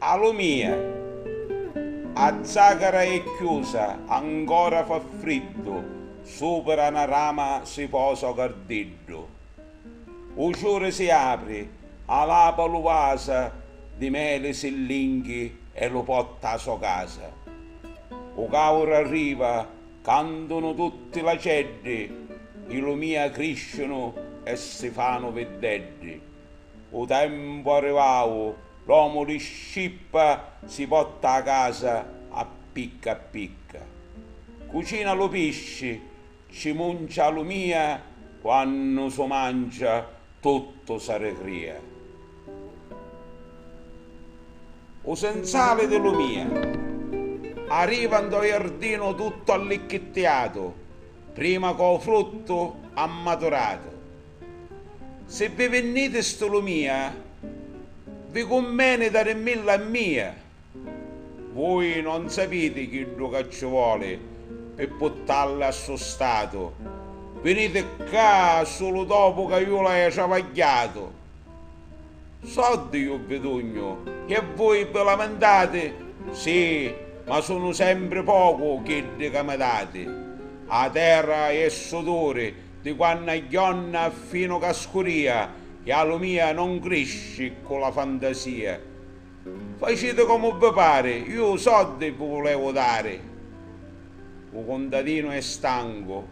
A lu mia. A zàcara è chiusa, ancora fa friddu, supra na rama si posa o gardiddu. U ciuri si apri, alapa lu vasa di meli si linghi e lu potta a so casa. U càuru arriva, Cantunu tutti l'aceddi, i lumìa crisciunu e si fanu viddeddi. U tempu arrivau, l'omu di scippa si potta a casa a picca a picca. Cucina lu pisci, ci muncia a lumìa quannu su mancia Tuttu s'arregrìa. U senzali di Lumìa. Arriva ntô jardinu tuttu allicchittiatu, prima cò fruttu ammaturatu. Si vi vinnìti stu Lumìa, vi cummeni darimmilla a mìa. Vui non sapiti chiddu ca cci voli pi puttalli a stu statu. Viniti ccà sulu dopu ca ju l'haiu travagghiatu. Soddi ju bidugnu e vui vi lamintati? Sì, ma sunu sempri pocu chiddi ca mi dati. A terra è suduri di quannu agghionna finu ca scuria e a lumia non crisci ccu la fantasia. Faciti comu vi pari, iu u soddi vi vulevu dari. U cuntadinu è stancu,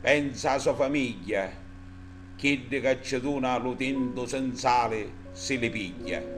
pensa a so famigghia, chiddi ca ci duna lu tintu sinzali si li pigghia.